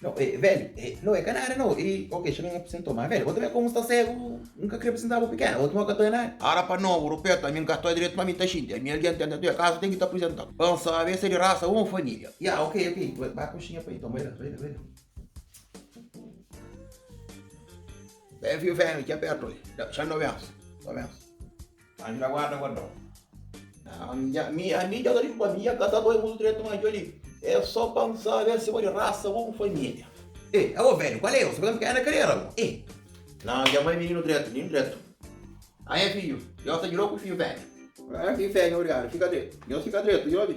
No, e, veli, e, no, e ka nada, no, e, ok, xa ben apresentou, ma veli, bo ta ben komu sta segu, N ka kre apresenta bo pikena, bo tuma ka ta e nada. Ara pa no, Rupeta, ami N ka sta diretu, ma ami ta xinti, ami algen ten ten, kaza ten ki ta apresenta, pa N sabi es e di rasa un, familia. Ya, ok, ok, ba, ba koxinha pa e nton, bai la, bai la, bai la. Ben, fio, ben, ki apertu li, da, xa no bensi, no bensi. Anju na guarda guardau. Nha, mi, a mi djoga di futbol, mi nha ka ta bai mutu dretu ma djoli é só pa N sabe si bo di rasa bon família. Ê, abo velhu, kual é eu? Sabê ka N ka N karera abo? Ê! Na, nha mai mininu dretu, mininu dretu. Aé, fidju, nhos ta djirau ku fidju fêmia. Aé, fidju fêmia, obrigadu, fika dretu. Nhos fika dretu, djoli.